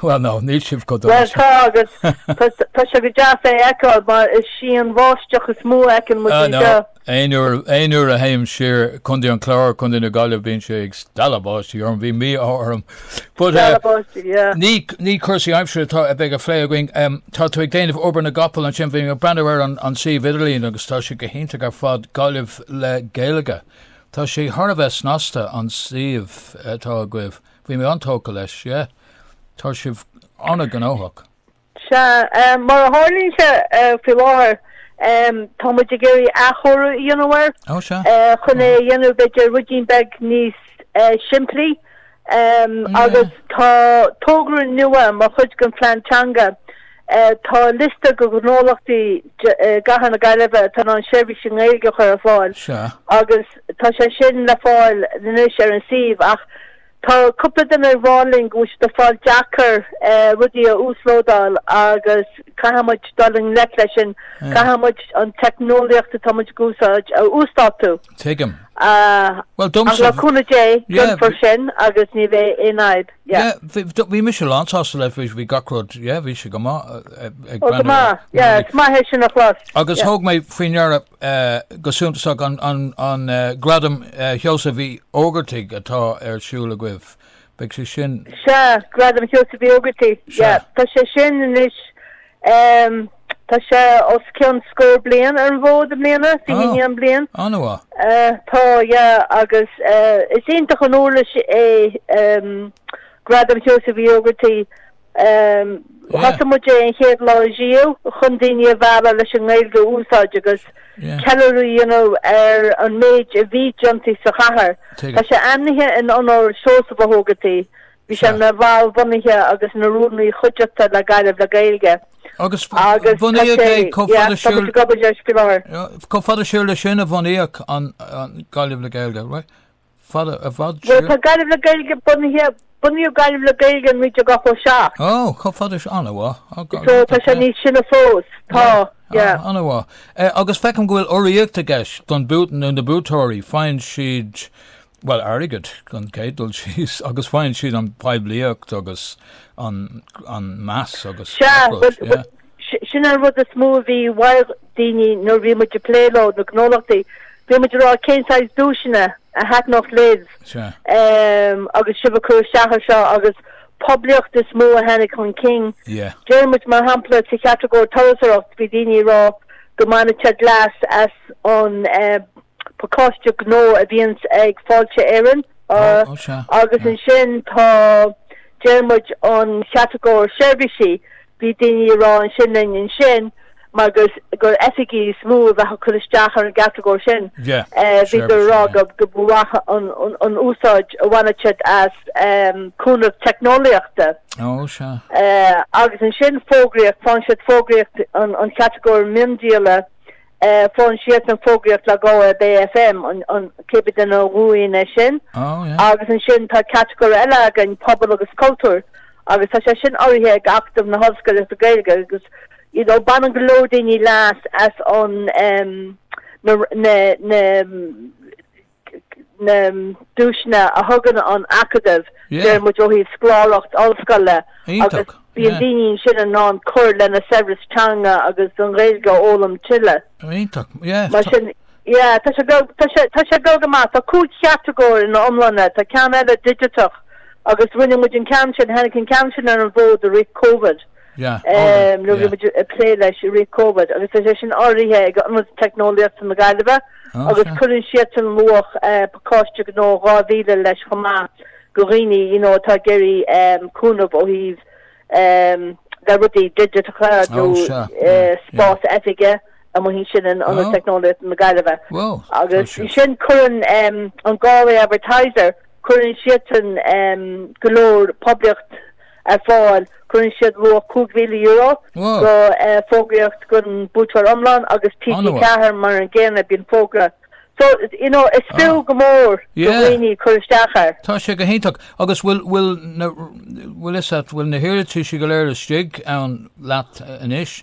Bhuel ná, níl sibh chomh dona Bhuel sin. tá agus tá sé go deas é a fheiceáil mar is sí an bháisteach is mó a fheiceann muid Ah no, anseo. aon uair, aon uair a théim siar Contae an Chláir, Contae na Gaillimhe bíonn sé ag stealladh báistí orm, bíonn mí-ádh orm. But eh, Stealladh báistí, yeah. ní, ní cúrsaí aimsire atá, a bheidh ag plé againn, em, tá tú ag déanamh obair na gcapall ansin, bhí mé ag breathnú ar an, an suíomh idirlín agus tá sé go hiontach ar fad, Gaillimh le Gaeilge. Tá sé thar a bheith snasta an suíomh atá agaibh. Bhí mé an-tógtha leis, yeah. Tá sibh an-ghnóthach. Sea, mar a tharlaíonn sé faoi láthair, tá muid ag iarraidh athchóiriú a dhéanamh air. Ó, sea. Chun é a dhéanamh b'fhéidir ruidín beag níos simplí agus tá togra nua mar chuid den phlean teanga. Tá liosta de ghnólachtaí i gcathair na Gaillimhe atá in ann seirbhís i nGaeilge a chur ar fáil agus tá sé sin le fáil anois ar an suíomh ach tá cúpla duine ag rá linn go bhfuil sé ag fáil deacair rudaí a uaslódáil agus caithfidh muid dul i ngleic leis sin, caithfidh muid an teicneolaíocht atá muid ag úsáid a uasdátú. Tuigim. Bhuel domsa. Ach le cúnamh Dé, déanfar sin agus ní bheidh aon fhadhb. Bhí mise lánsásta le bhí bhí gach rud, yeah, bhí sé go maith ag Ó go maith, yeah, is maith é sin a chloisteáil. Agus thóg mé faoi deara go suntasach an Gradam Sheosaimh Uí Ógartaigh atá ar siúl agaibh. Beidh sé sin. Sea, Gradam Sheosaimh Uí Ógartaigh. Sea. Tá sé sin anois, tá sé os cionn scór bliain ar an bhfód i mbliana, 21 bliain. An-mhaith. Tá, yeah, agus is iontach an uirlis é Gradam Sheosaimh Uí Ógartaigh. Thosaigh muid é an chéad lá riamh chun daoine a mhealladh leis an nGaeilge a úsáid agus ceiliúradh a dhéanamh ar an méid a bhí déanta sa chathair. Tá sé ainmnithe in onóir Sheosaimh Uí Ógartaigh. Bhí sé ina bhall bhunaithe agus ina rúnaí chuideachta le Gaillimh le Gaeilge. Agus bunaíodh é chomh fada siar Chomh fada siar le sin a bhunaíodh an Gaillimh le Gaeilge, right? Fada i bhfad Bhuel, siar. tá Gaillimh le Gaeilge bunaithe, bunaíodh Gaillimh le Gaeilge in 1987. Ó, chomh fada sin, an-mhaith. Ó, go- So, tá sé ok. níos sine fós, tá, yeah. Ah, an-mhaith. Eh, agus feicim go bhfuil urraíocht i gceist don buaiteoir, nó na buaiteoirí, faigheann siad, bhuel, airgead, an chéad dul síos, agus faigheann siad an phoiblíocht agus an, an meas agus Sea, a leithéid, but- yeah. but- Sin an rud is mó a bhí ó dhaoine nuair a bhí muid ag plé leo, na gnólachtaí. Bhí muid ag rá cén saghas duaiseanna a thaitneodh libh agus sibh ag cur isteach ar seo agus poblíocht is mó a tháinig chun cinn. Deir muid mar shampla sa chatagóir turasóireacht bhí daoine ag rá go mbainfidís leas as an pacáiste gnó a bhíonn ag Fáilte Éireann agus ansin tá, deir muid, an chatagóir seirbhísí, Bhí daoine ag rá ansin linn ansin mar gur oifigí is mó a bheadh ag cur isteach ar an gcatagóir sin. Bhíodar ag rá go mba mhaith an úsáid a bhainfidís as cúnamh teicneolaíochta. Agus ansin fógraíocht, faigheann siad fógraíocht an chatagóir miondíola, Faigheann siad an fógraíocht le Galway Bay FM, an chéad duine a bhuann é sin. Agus ansin tá catagóir eile againn, pobal agus cultúr, agus tá sé sin urraithe ag Acadamh na hOllscolaíochta Gaeilge agus you know baineann go leor daoine leas as an na na duaiseanna a thugann an Acadamh, deir muid ó thaobh scoláireacht ollscoile agus bíonn daoine ansin in ann cur lena saibhreas teanga agus an Ghaeilge a fhoghlaim tuilleadh. Iontach, yeah. Mar sin, yeah, tá sé go go maith, tá cúig chatagóir in iomlán ann, tá ceann eile digiteach agus rinne muid an ceann sin, tháinig an ceann sin ar an bhfód i rith Covid. nó bhí muid ag plé leis i rith Covid agus tá sé sin urraithe ag Ionad Teicneolaíochta na Gaillimhe agus cuireann siadsan luach pacáiste gnó dhá mhíle leis chomh maith do dhaoine you know atá ag iarraidh cúnamh ó thaobh le rudaí digiteacha nó spás oifige amuigh ansin in Ionad Teicneolaíochta na Gaillimhe. Agus ansin cuireann an Galway Advertiser cuireann siadsan go leor poiblíocht ar fáil. Cuireann siad luach €5,000 go fógraíocht don bhuaiteoir iomlán agus TG4 mar an gcéanna bíonn fógra so you know is fiú go mór do dhaoine cur isteach air. Tá sé go hiontach. Agus bhfuil bhfuil na bhfuil is ait bhfuil na hiarratais go léir istigh agaibh anois?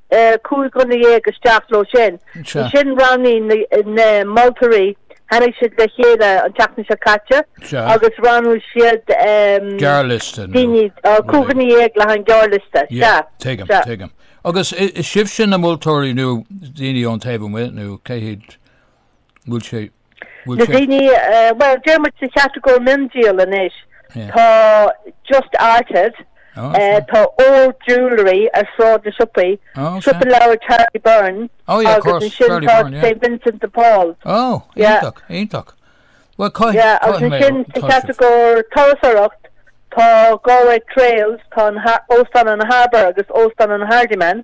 cúig dhuine dhéag isteach leo sin. Ansin roghnaigh na moltóirí, tháinig siad le chéile an tseachtain seo caite agus roghnaigh siad gearrliosta daoine cúig dhuine dhéag le haghaidh an gearrliosta. Tuigim, tuigim. Agus sibhse na moltóirí nó daoine ón taobh amuigh nó cé hiad bhfuil sé Na daoine, bhuel, deirimid sa chatagóir miondíol anois, tá Just Arted, tá Old Jewellery ar Shráid na Siopaí, Siopa Leabhar Charlie Byrne agus ansin tá St Vincent de Paul. Ó, iontach, iontach. Agus ansin sa chatagóir turasóireacht, tá Galway Trails, tá Óstán an Harbour agus Óstán an Hardiman.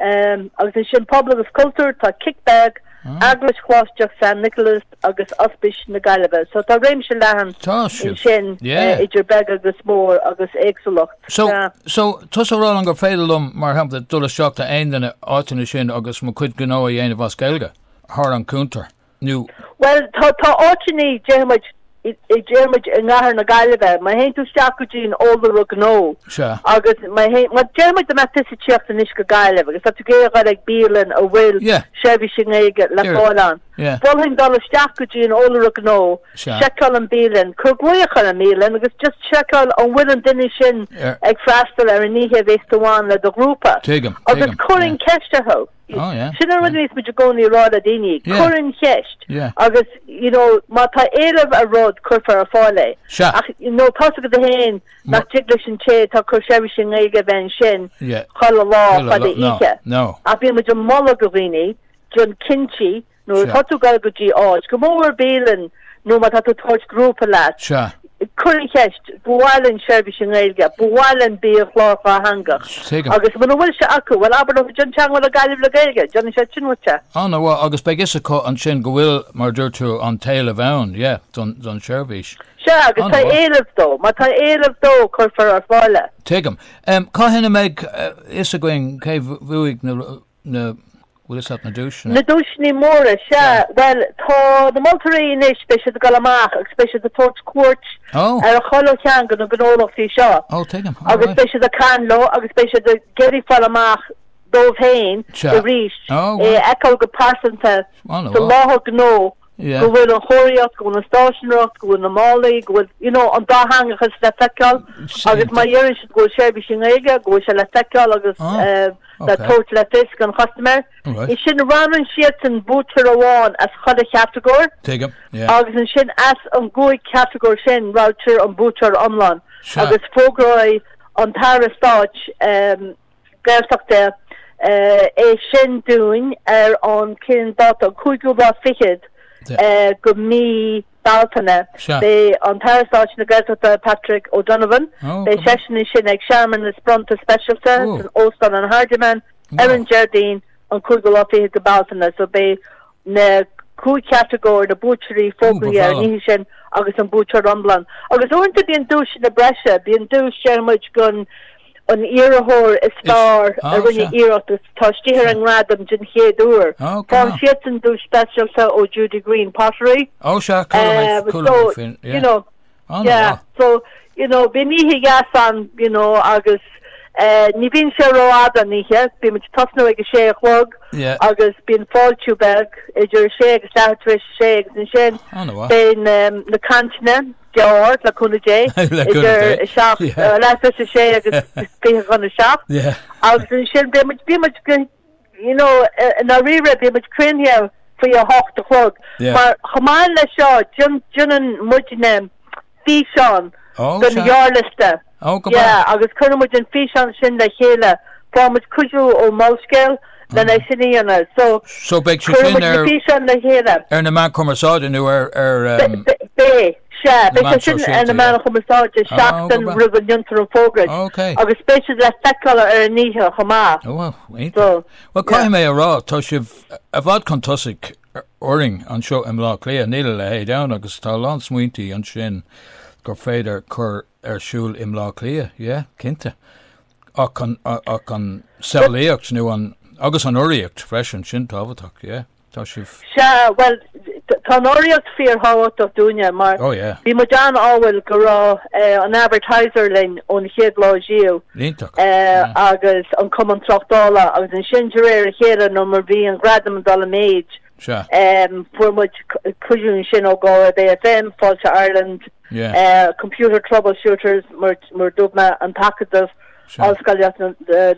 Um, agus ansin Pobal agus Cultúr, tá Kick Bag, ah. Eaglais Choláisteach San Nioclás agus Ospis na Gaillimhe. So tá réimse leathan ansin eh, yeah. uh, idir beg agus mór agus éagsúlacht. So, yeah. so tá tusa ag rá ansin gur féidir liom mar shampla dul isteach go dtí aon cheann de na háiteanna sin agus mo chuid gnó a dhéanamh as Gaeilge, thar an cuntar. nó. Bhuel, tá áiteanna, déarfaimid, déarfaimid, i gCathair na Gaillimhe, má théann tú isteach go dtí an Eolaire Gnó, Sea. agus má théann, má déarfaimid go mbeadh tusa ag tíocht anois go Gaillimh agus tá tú ag iarraidh bialann a bhfuil Yeah. seirbhís i nGaeilge le Iarr. fáil ann, Yeah. mholfainn dul isteach go dtí an Eolaire Gnó, Sea. seiceáil an bhialann, cuir glaoch ar an mbialann agus just seiceáil an bhfuil an duine sin Iarr. ag freastal ar an oíche a bheas tú ann le do ghrúpa. Tuigim, agus tuigim, cuir yeah. an cheist orthu. Oh, yeah. Sin an rud a bhíos muid i gcónaí ag rá le daoine, cuir an cheist agus you know má tá éileamh ar rud cuirfear ar fáil é. Sea. Ach you know tá a fhios agat féin nach dtig leis an té atá ag cur seirbhís i nGaeilge a bheith ansin chuile lá agus oíche. Ach bíonn muid ag moladh do dhaoine déan cinnte Nuair Sea. atá tú ag dul go dtí áit, go mór mór bialann nó má tá tú ag tabhairt grúpa leat, Sea. cuir an cheist, ba mhaith linn seirbhís i nGaeilge, ba mhaith linn biachlár dátheangach. Tuigim. Agus muna bhfuil sé acu, bhuel abair leo déan teagmháil le Gaillimh le Gaeilge, déanfaidh siad sin duitse. Ana-mhaith, agus beidh a fhios acu ansin go bhfuil, mar a dúirt tú, an t-éileamh ann, yeah, don, don tseirbhís. Sea, agus tá Ana-mhaith. éileamh dó, má tá éileamh dó, cuirfear ar fáil é. Tuigim. Em, cathain a mbeidh eh, fhios againn cé bh- bhuaigh na ru- Na, tá a fhios agat na duaiseanna? Na duaiseanna móra, sea, bhuel, tá na moltóirí anois, beidh siad ag dul amach agus beidh siad ag tabhairt cuairt ar 'chuile cheann de na gnólachtaí seo agus beidh siad ag caint leo agus beidh siad ag iarraidh fáil amach dóibh féin arís, é a fheiceáil go pearsanta sa láthair gnó go bhfuil an chomharthaíocht, go bhfuil an stáiseanóireacht, go bhfuil na málaí, go bhfuil, you know, an dátheangachas le feiceáil agus má deireann siad go bhfuil seirbhís i nGaeilge, go bhfuil sé le feiceáil agus le tabhairt le fios don chustaiméir. Ansin, roghnaíonn siadsan buaiteoir amháin as chuile chatagóir agus ansin as an gcúig chatagóir sin roghnaítear an buaiteoir iomlán agus fógróidh an tAire Stáit, Gaeltachta, é sin dúinn ar an cén dáta, an cúigiú lá fichead de mhí Bealtaine. Sea. Beidh an tAire Stáit na Gaeltachta Patrick O'Donovan, Ó, go maith. beidh seisean ansin ag searmanas bronnta speisialta Ó. san Óstán an Hardiman ar an Déardaoin an cúigiú lá fichead de Bhealtaine, so beidh na cúig chatagóir, na buaiteoirí fógraítear an oíche sin agus an buaiteoir iomlán. Agus uaireanta bíonn duaiseanna breise, bíonn duais againn i gcónaí gon iarrthóir is fearr a rinne iarracht agus atá istigh ar an ngradam den chéad uair. Faigheann siadsan duais speisialta ó Judy Greene, Pottery. Ó sea, chuala mé, chuala mé faoi, yeah. An Yeah, mhaith. so, you know, bíonn oíche dheas ann, you know, agus eh, ní bhíonn sé rófhada an oíche, bímid ag tosnú ag a sé a chlog Yeah. agus bíonn fáiltiú beag idir a sé agus leath tar éis a sé agus ansin An mhaith. bíonn em, na cainteanna go deo le cúnamh Dé Le cúnamh idir Dé. a seacht, Yeah. eh, leath tar éis a sé agus fiche chun a seacht Yeah. agus ansin bímid, bímid go you know, i ndáiríre, bíonn muid críochnaithe faoi a hocht a chlog, mar chomh maith le seo, déanann muidne físeán don ghearrliosta, yeah, agus cuireann muid an físeán sin le chéile, faigheann muid cuidiú ó Molscéal lena sin a dhéanamh, so beidh siad sin, físeáin le chéile. Ar na meáin chumarsáide nó ar, ar, um. Beidh. Sea, beidh sé sin ar na meáin chumarsáide seachtain roimh a ndéantar an fógairt agus beidh siad le feiceáil ar an oíche chomh maith. Ó, iontach. Bhuel, caithfidh mé a rá, tá sibh i bhfad chun tosaigh orainn anseo i mBleá Cliath, níl a leithéid ann agus tá a lán smaointí ansin gur féidir cur ar siúl i mBleá Cliath, yeah, cinnte. Ach an samhlaíocht nó an, agus an urraíocht freisin, sin tábhachtach, yeah. Tá sibh. Sea, bhuel, tá an urraíocht fíorthábhachtach dúinne mar bhí muid an-ádhúil go raibh an Advertiser linn ón chéad lá díobh agus an Cumann Tráchtála agus ansin de réir a chéile nó mar bhí an Gradam ag dul i méid, fuair muid cuidiú ansin ó Galway Bay FM, Fáilte Ireland, Computer Troubleshooters, mar dúirt mé, an tAcadamh. Ollscolaíocht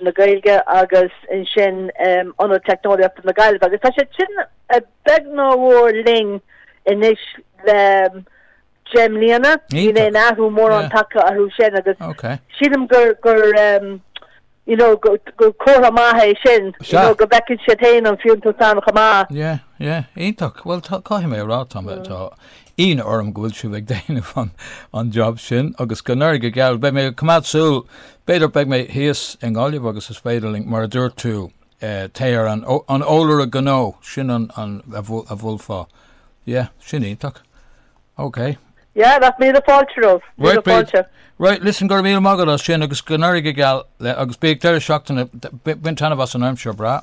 na Gaeilge agus ansin Ionad Teicneolaíochta na Gaillimhe agus tá siad sin beag ná mór linn anois le deich mbliana. Níl aon athrú mórán tagtha orthu sin agus sílim gur comhartha maith é sin go bhfeiceann siad féin an fiúntas ann chomh maith. Iontach. Bhuel, caithfidh mé a rá, tá Ionadh orm go bhfuil sibh ag déanamh an job sin agus go n-éirí go geal. Beidh mé ag coimeád súil, b'fhéidir, beidh mé thíos i nGaillimh agus is féidir linn, mar a dúirt tú, téir ar an eolaire gnó, sin a bhfuil le fáil. Yeah, sin iontach. OK. Yeah, that's míle fáilte romhat, míle fáilte. Right, listen, go raibh míle maith agat as sin agus go n-éirí go geal le agus bíodh deireadh seachtaine, bain taitneamh as an aimsir breá.